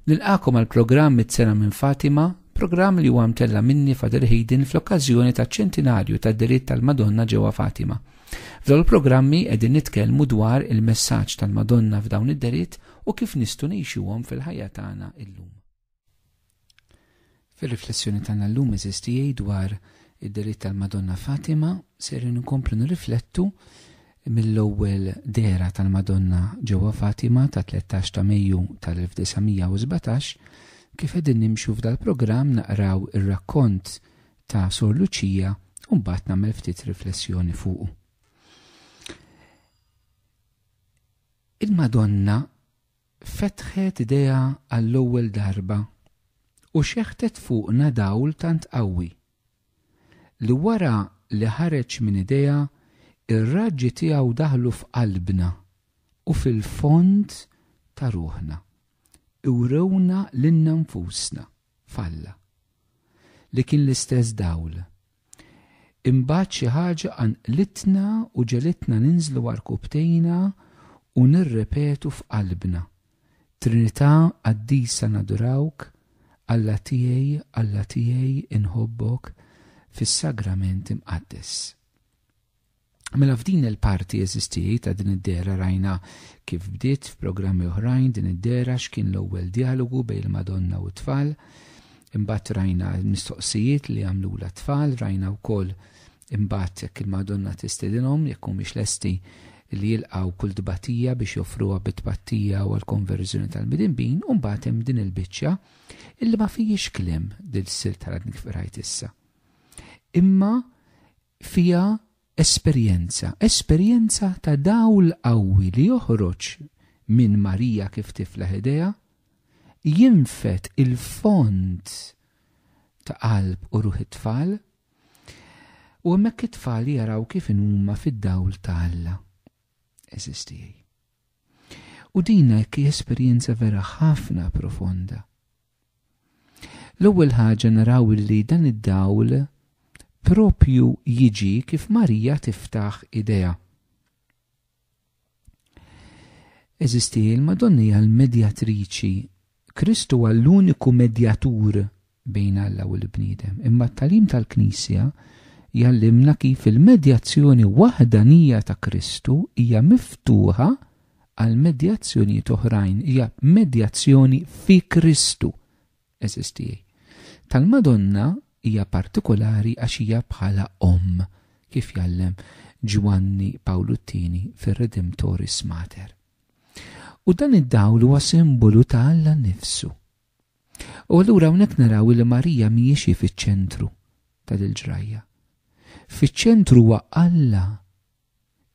Nilqakom għal programm mit-sena minn Fatima, programm li huwa mtella minni Fader Hayden fl-okkażjoni ta' ċentinarju ta' diritt tal-Madonna ġewwa Fatima. F'dawn il-programmi qegħdin nitkellmu dwar il-messaġġ tal-Madonna f'dawn id-deritt u kif nistgħu ngħixuhom fil-ħajja tagħna illum. Fir-riflessjoni tagħna llum eżiż tiegħi dwar id-delitt tal-Madonna Fatima ser inkomplu nirriflettu mill-ewwel dehra tal-Madonna ġewwa Fatima ta' 13 ta' Mejju tal-1917 kif qegħdin nimxu f'dal-programm naqraw ir-rakkont ta' Sor Luċija u mbagħad nagħmel ftit riflessjoni fuqu. Il-Madonna fetħet idejha għall-ewwel darba u xeħtet fuqna dawl tant qawwi, li wara li ħareġ minn idejha r-raġġi tiegħu daħlu f'qalbna u fil-fond ta' ruħna, iwrewna lilna nfusna f'Alla, li kien l-istess dawl Imbagħad xi ħaġa qanqlitna u ġegħlitna ninżlu għarkupptejna u nirrepetu f'qalbna, Trinità Qaddisa nadurawk, Alla tiegħi, Alla tiegħi, inħobbok, fis-Sagrament Imqaddes. Mela f'din il-parti eżistijaj ta' din id-dera rajna kif bdiet f'programmi oħrajn din id-dera x'kien l-ewwel djalogu bejn il-Madonna u t-tfal. Imbagħad rajna l-mistoqsijiet li għamlula t-tfal, rajna wkoll imbagħad jekk il-Madonna tistedinhom jekk humiex lesti li jilqgħu kull tbatija biex joffruha bit-tpattija u għall-konverżjoni tal-midinbin u mbagħad hemm din il-biċċa illi ma fijiex kliem dil-sil tal-għadni kif qrajt issa. Imma fiha esperjenza, esperjenza ta' dawl qawwi li joħroġ minn Marija kif tiflaħ idejha, jinfed il-fond ta' qalb u ruħ it-tfal, u hemmhekk it-tfal jaraw kif inhuma fid-dawl ta' Alla. Għeżież tiegħi. U din hekk hija esperjenza vera ħafna profonda. L-ewwel ħaġa naraw li dan id-dawl proprju jiġi kif Marija tiftaħ idejha. Eżisti, il-Madonna hija l-medjatriċi. Kristu huwa l-uniku medjatur bejn Alla u l-bniedem. Imma t-talim tal-Knisja jallimna kif il-medjazzjoni waħdanija ta' Kristu hija miftuħa għal medjazzjonijiet oħrajn hija medjazzjoni fi Kristu, għeżież tiegħi. Tal-Madonna hija partikolari għax hija bħala omm, kif jgħallem Ġwanni Pawlu t-Tieni fir-Redemptoris Mater. U dan id-dawl huwa simbolu ta' Alla nnifsu. U allura hawnhekk naraw li Marija mhijiex hi fiċ-ċentru tal-ġrajja. Fiċ-ċentru huwa Alla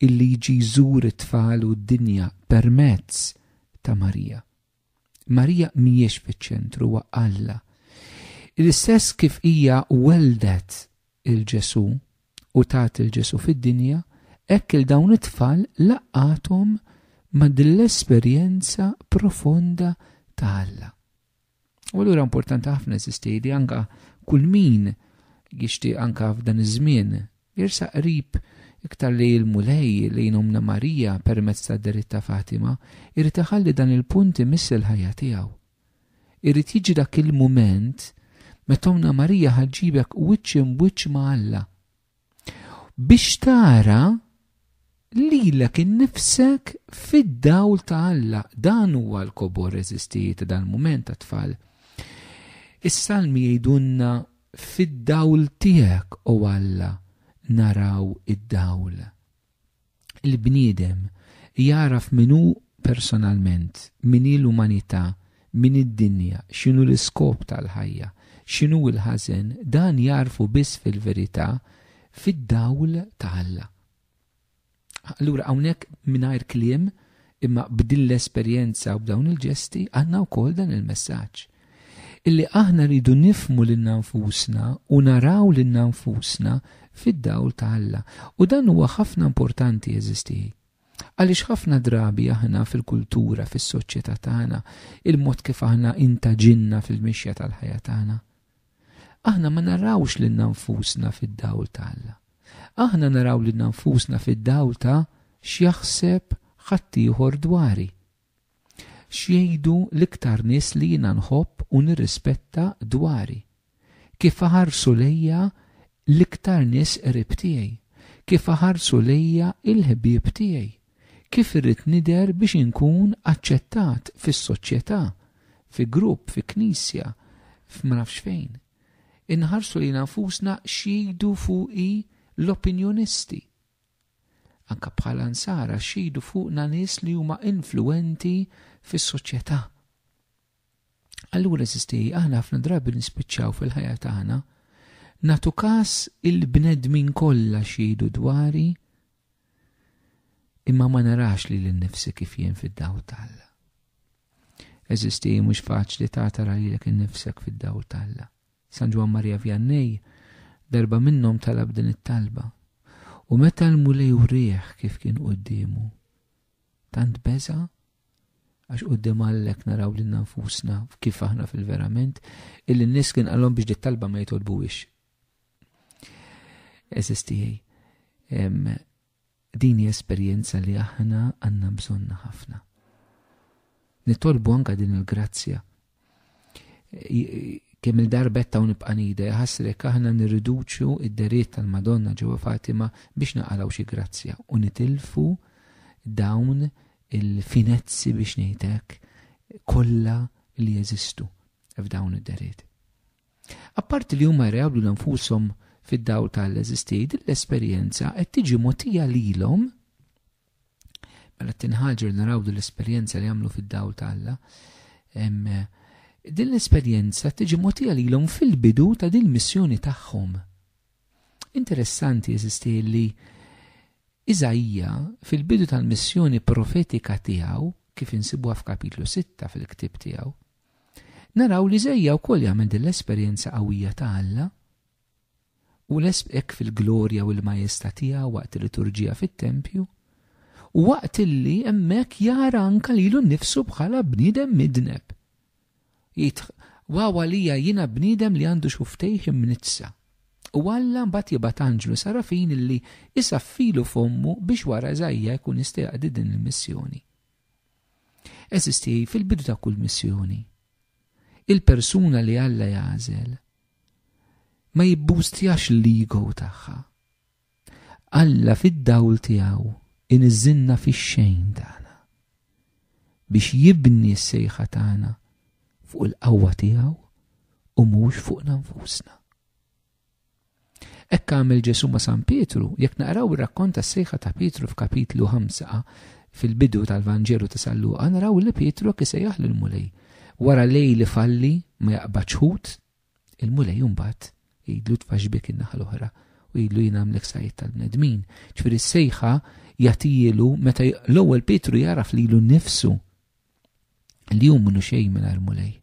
illi jġi jżur it-tfal u d-dinja permezz ta' Marija. Marija mhijiex fiċ-ċentru huwa Alla. L-istess kif hija weldet il-Ġesu u tat il-Ġesu fid-dinja, hekk il dawn it-tfal laqqathom ma' din l-esperjenza profonda ta' Alla. U allura importanti ħafna insisti li anka kull min jixtieq anka f'dan iż-żmien jirsa qrib iktar li l-Mulej li jnomna Marija permezz ta' derit ta' Fatima, irid iħalli dan il-punt imiss il-ħajja tiegħu. Irid jiġi dak il-mument meta Omna Marija ħaġġibek wiċċ imbwiċċ ma' Alla. Biex tara lilek innifsek fid-dawl ta' Alla. Dan huwa l-kobor reżistiji ta' dal-mument ta' tfal. Is-salmi jgħidulna fid-dawl tiegħek, o Alla, naraw id-dawl. il-bniedem jagħraf min hu personalment, min hi l-umanità, min hi d-dinja, x'inhu l-iskop tal-ħajja, x'inhu l-ħażen, dan jagħrfu biss fil-verità fid-dawl ta' Alla. Allura hawnhekk mingħajr kliem imma b'din l-esperjenza u b'dawn il-ġesti għandna wkoll dan il-messaġġ illi aħna rridu nifhmu lilna nfusna u naraw lilna nfusna fid-dawl ta' Alla. U dan huwa ħafna importanti, għeżież tiegħi. Għaliex ħafna drabi aħna fil-kultura, fis-soċjetà tagħna, il-mod kif aħna intaġilna fil-mixja tal-ħajja tagħna, aħna ma narawx lilna nfusna fid-dawl ta' Alla. Aħna naraw lilna nfusna fid-dawl ta' x'jaħseb ħaddieħor dwari. X'jgħidu l-iktar nies li jiena nħobb u nirrispetta dwari? Kif iħarsu lejja l-iktar nies qrib tiegħi? Kif iħarsu lejja l-ħbieb tiegħi? Kif irrid nidher biex inkun aċċettat fis-soċjetà, fi grupp, fi knisja, f'ma nafx fejn? Inħarsu lejna nfusna x'jgħidu fuqi l-opinjonisti? Anke bħala Nsara xhidu fuqna nies li huma influwenti fis-soċjetà. Allura eżisti, aħna ħafna drabi nispiċċaw fil-ħajja tagħna nagħtu każ il-bnedmin kollha xhidu dwari imma ma narax li l-nifsi kif jien fid-daw talla. Eżisti mhux faċli ta' tara li l-ek nifsek fid-daw talla. San Ġwann Marija Vjannej darba minnhom talab din it-talba, u meta l-Mulej wrieh kif kien quddiemu, tant beża' għax quddiem Alla hekk naraw lilna nfusna kif aħna fil-verament, illi n-nies kien qalhom biex dit-talba ma jitolbuhiex. Eżiz tiegħi, Din hi esperjenza li aħna għandna bżonnha ħafna. Nitolbu anka din il-grazzja. Kemm il-darbet ta' nibqa' nida jħassrek aħna nirriduċu id-deriet tal-Madonna ġewwa Fatima biex naqalgħu xi grazzja u nitilfu dawn il-finezzi biex ngħidlek kollha li jeżistu f'dawn id-deriet. Apparti li huma jreablu 'l nfushom fid-dawl ta' l-eżistej, din l-esperjenza qed tiġi mogħtija lilhom mela t-tieni ħaġa li naraw din l-esperjenza li jagħmlu fid-dawl ta' Alla. Din l-esperjenza tiġi mogħtija lilhom fil-bidu ta' din missjoni tagħhom. Interessanti eżisti li Iżajja fil-bidu tal-missjoni profetika tiegħu kif insibuha f'kapitlu 6 fil-ktieb tiegħu, Naraw li Żejja wkoll jagħmel din l-esperjenza qawwija ta' Alla u hekk fil-glorja u l-majesta tiegħu waqt il-liturġija fit-tempju u waqt illi hemmhekk jara anka lilu nnifsu bħala bniedem midneb. Jgħid, waw għalija jiena bniedem li għandu xuftejh imnitsa. U Alla mbagħad jibgħat anġlu sarafin illi isaffilu fommu biex wara Żajja jkun jista' jaqdi din il-missjoni. Eżisti fil-bidu ta' kull missjoni. Il-persuna li Alla jagħżel ma jibbustjax l-ego tagħha. Alla fid-dawl tiegħu iniżżilna fix-xejn tagħna biex jibni s-sejħa tagħna fuq il-qawwa tiegħu u mhux fuqna nfusna. Hekk għamel Ġesù ma' San Pietru, jekk naqraw ir-rakkont tas-sejħa ta' Pietru f'Kapitlu 5 fil-bidu tal-Vanġelu ta' San Luqa naraw li Pietru hekk isejjaħ lill-Mulej. Wara lejl ifalli ma jaqbadx ħut, il-Mulej imbagħad jgħidlu tfaxx bik in-naħa l-oħra u jgħidlu jien għamlek sajjed tal-bnedmin. Ġifieri s-sejħa jagħtijielu meta l-ewwel Pietru jaraf lilu nnifsu li hu minnu xejn mingħajr Mulej.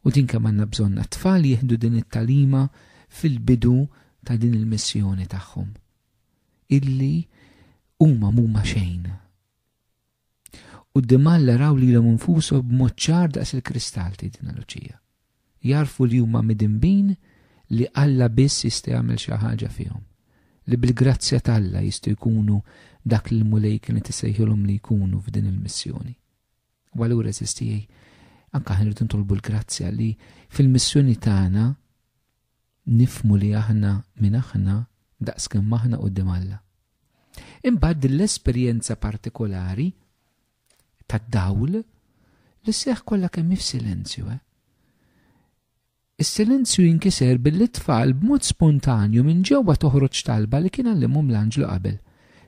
U din kemm għandna bżonnha. T-tfal jieħdu din it-tagħlima fil-bidu ta' din il-missjoni tagħhom. Illi huma mhuma xejn. U d-dimalla raw li l infusu b'mod ċar daqs il-kristall tidina luċija. Jarfu li huma midinbin li Alla biss jista' jagħmel xi ħaġa fihom. Li bil-grazzja t'Alla jistgħu jkunu dak li l-Mulej kienet isejħilhom li jkunu f'din il-missjoni. U allura eżistijaj, anka ħin rridu ntolbu l-grazzja li fil-missjoni tagħna nifmu li aħna minn aħna daqs kemm aħna qudiem Alla. Imbagħad l-esperjenza partikolari tad-dawl li seħ kollha kemm f'silenzju, eh? Is-silenzju jinkiser billi t-tfal b'mod spontanju minn ġewwa toħroġ talba li kien għallimhom l-anġlu qabel,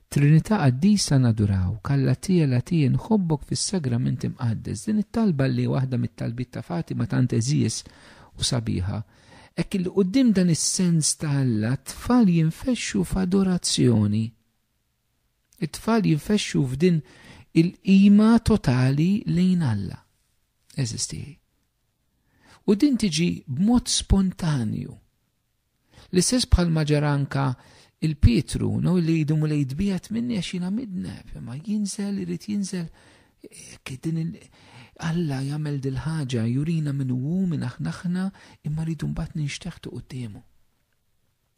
Trinità Qaddisa nadurawk, Alla Tie la Tie nħobbok fis-Sagrament Imqaddes. Din it-talba li waħda mit-talbiet ta' Fatima tant għeżież u sabiħa. Hekk illi quddiem dan is-sens ta' Alla t-tfal jinfexxu f'adorazzjoni. It-tfal jinfexxu f'din il-qima totali lejn Alla. Għeżież tiegħi. U din tiġi b'mod spontanju. L-istess bħalma ġara anka il Pietru, no, li jdu mulej tbiegħed minni għax jiena midneb, imma jinżel, irid jinżel. Din Alla jagħmel dil-ħaġa jurina minn hu minn aħna aħna imma rridu mbagħad ninxteħtu quddiemu.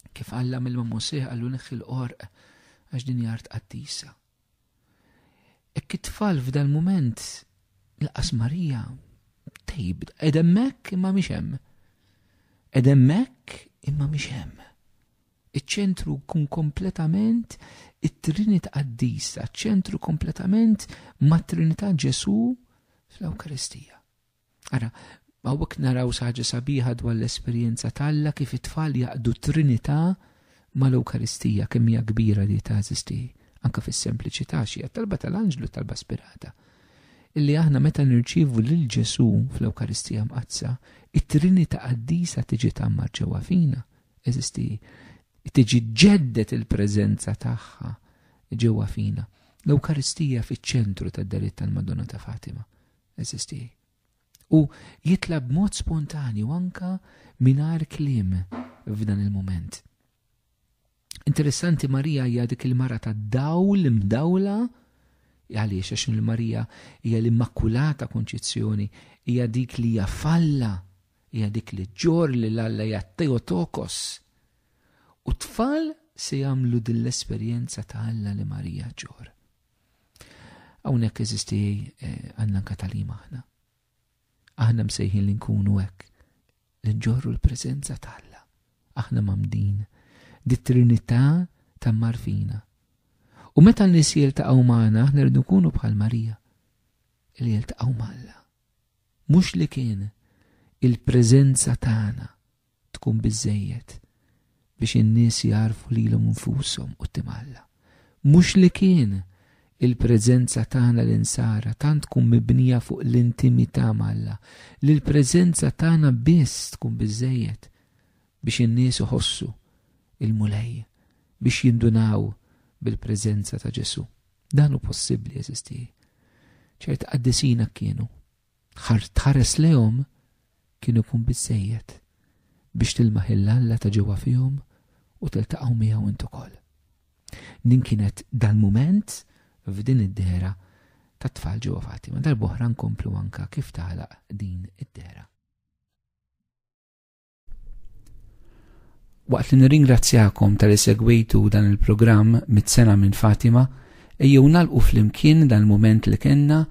Kif Alla mill-ma Mosè għallu neħħi l-qorq għax din jart qaddisa. Hekk it-tfal f'dal-mument laqas Marija tejb qed hemmhekk imma mhix hemm. Qed hemmhekk imma mhix hemm. Iċ-ċentru kun kompletament it-Trinità Qaddisa, ċentru kompletament mat-Trinità Ġesù fl-Ewkaristija. Ara, hawnhekk naraw xi ħaġa sabiħa dwar l-esperjenza ta' Alla kif it-tfal jaqdu t-Trinità mal-Ewkaristija, kemm hija kbira li teżisti anke fis-sempliċità xi hija talba tal-anġlu talba spirata. Illi aħna meta nirċievu lil Ġesù fl-Ewkaristija Mqaddsa, it-Trinità Qaddisa tiġi tgħammar ġewwa fina, eżisti tiġi ġeddet il-preżenza tagħha ġewwa fina. L-Ewkaristija fiċ-ċentru tad-delitt tal-Madonna ta' Fatima. Eżisti. U jitla b'mod spontanju anka mingħajr kliem f'dan il-mument. Interessanti Marija hija dik il-mara ta' dawl imdawla għaliex għax il-Marija hija l-Immakulata Konċizzjoni, hija dik li hija falla, hija dik li ġor li l-Alla hija Teotokos. U tfal se jagħmlu din l-esperjenza ta' Alla li Marija ġor. Hawnhekk eżisti eh, għandna anka talima aħna. Aħna msejħin li nkunu hekk li nġorru l-preżenza t'Alla. Aħna mamdin dit-trinità ta' marfina. U meta n-nies jiltaqgħu magħna aħna rridu nkunu bħal Marija li jiltaqgħu m'Alla. Mhux li kien il-preżenza tagħna tkun biżżejjed biex in-nies jagħrfu lilhom infushom quddiem Alla. Mhux li kien il-preżenza tagħna l-Insara tant tkun mibnija fuq l-intimità m'Alla li l-preżenza tagħna biss tkun biżżejjed biex in-nies iħossu l-Mulej, biex jindunaw bil-preżenza ta' Ġesù. Dan hu possibbli, għeżież tiegħi. Ċerti qaddisin hekk kienu. Ħart tħares lejhom kien ikun biżżejjed biex tilmaħ il-Alla ta' ġewwa fihom u tiltaqgħu miegħu int ukoll. Din kienet dal-mument f'din id-dehra tat-tfal ġewwafati. Ma darb'oħra nkomplu anke kif tagħlaq din id-dehra. Waqt li nirringrazzjakom tal segwejtu dan il-programm mit-sena minn Fatima, ejjew nalqu flimkien dan il-moment li kenna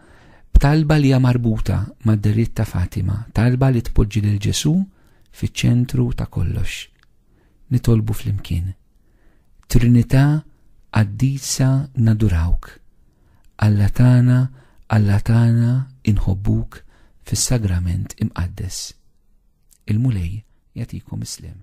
b'talba li hija marbuta mad-deritt ta' Fatima, talba li tpoġġi lil Ġesu fiċ-ċentru ta' kollox. Nitolbu flimkien. Trinità qaddisa nadurawk. Alla tagħna, Alla tagħna inħobbuk fis-sagrament imqaddes. Il-Mulej jagħtikom is-sliem.